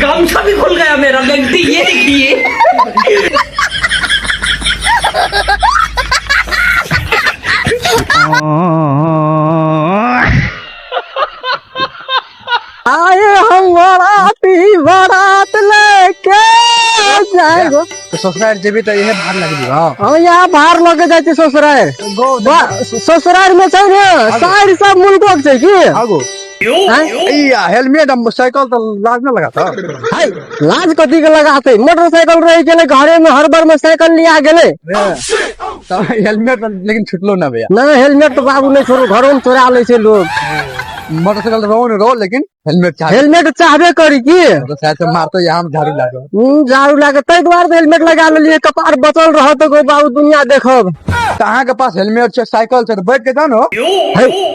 गामछा भी खुल गया मेरा गलती ये देखिए आए हम बराती बरात लेके जाएगो तो ससुराल जेबी तो यह भार लग दियो हम यहाँ बाहर लगे जाते ससुराल गो बा- ससुराल में छै ने साइड सब मुल्को छै की आगो या हेलमेट हम साइकिल तो लाज में लगाता हाय लाज कथी के लगाते मोटरसाइकिल रहे गेले घरे में हर बार में साइकिल लिया गेले तो हेलमेट तो लेकिन छुटलो ना भैया ना हेलमेट तो बाबू नहीं छोड़ो घरों में चोरा ले छे लोग मोटरसाइकिल रहो न रहो लेकिन हेलमेट चाहे हेलमेट चाहबे करी की तो शायद से मारतो यहाँ हम झाड़ू लागो हम्म, झाड़ू लागे ताहि दुआरे तो हेलमेट लगा लेलिए कपार बचल रह तो गो बाबू दुनिया देखब कहाँ के पास हेलमेट छे साइकिल छे तो बैठ के जानो हाय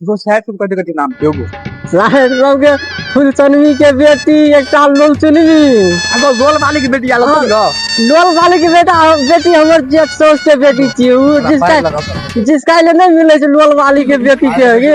वो शायद तुम कभी कभी नाम क्यों बोल राहत राव के फुलचनवी के बेटी एक साल लोल चुनवी अगो गोल वाली की बेटी आलो तुम हाँ। लोल वाली की बेटा बेटी हमर जेठ सोच के बेटी छी उ जिसका जिसका ले नहीं मिले छै लोल वाली के बेटी के गे